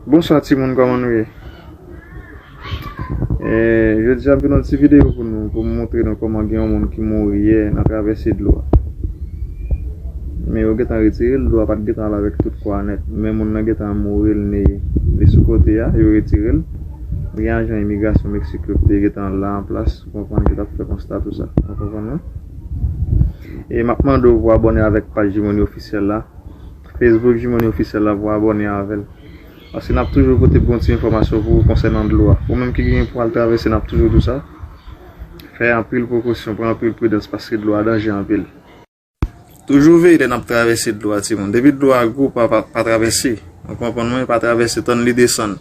Bonswa timoun kòman nou ye eee jodi a m fè nou ti video pou nou pou m montre nou kòman gen yon moun ki mouri yè nan travèse dlo a men yo gentan retire l dlo a pat gentan al avèk tout kò a nèt men moun nan gentan mouri l neye li sou kote a yo retire l gen ajan imigrasyon meksik yo ki te gentan la an plas ou konprann ki tap fè konsta tout sa ou konprann non e map mande w pou abòne avèk paj jimony officiel la. Facebook Jimony Officiel la pou abòne avèl paske nap toujou pote bon ti enfòmasyon pou ou konsènan dlo a ou menm ki genyen pou al travèse nap toujou di w sa fè anpil prekosyon pran anpil pridans paske dlo a danje anpil. Toujou veye lè nap travèse dlo a ti moun depi dlo a gwo pa pa travèse nou konprann mwen pa travèse tann li desann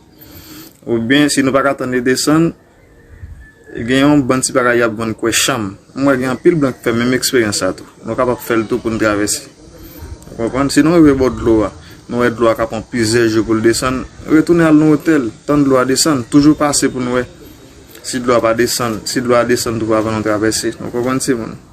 oubyen si nou paka tann li desann Gen yon bann ti bagay y ap vann kwè chanm. M wè gen anpil blan k fè menm eksperyans sa tou. Nou kapab fè l tou pou n travèse. Ou konprann? Si nou rive bò dlo a, nou wè dlo a ka pran plizyè jou pou l desann, retounen al nan otèl, tann dlo a desann, toujou pase pou n wè si dlo a pa desann, si dlo a desann twouvo avan nou travèse. Nou konprann timoun?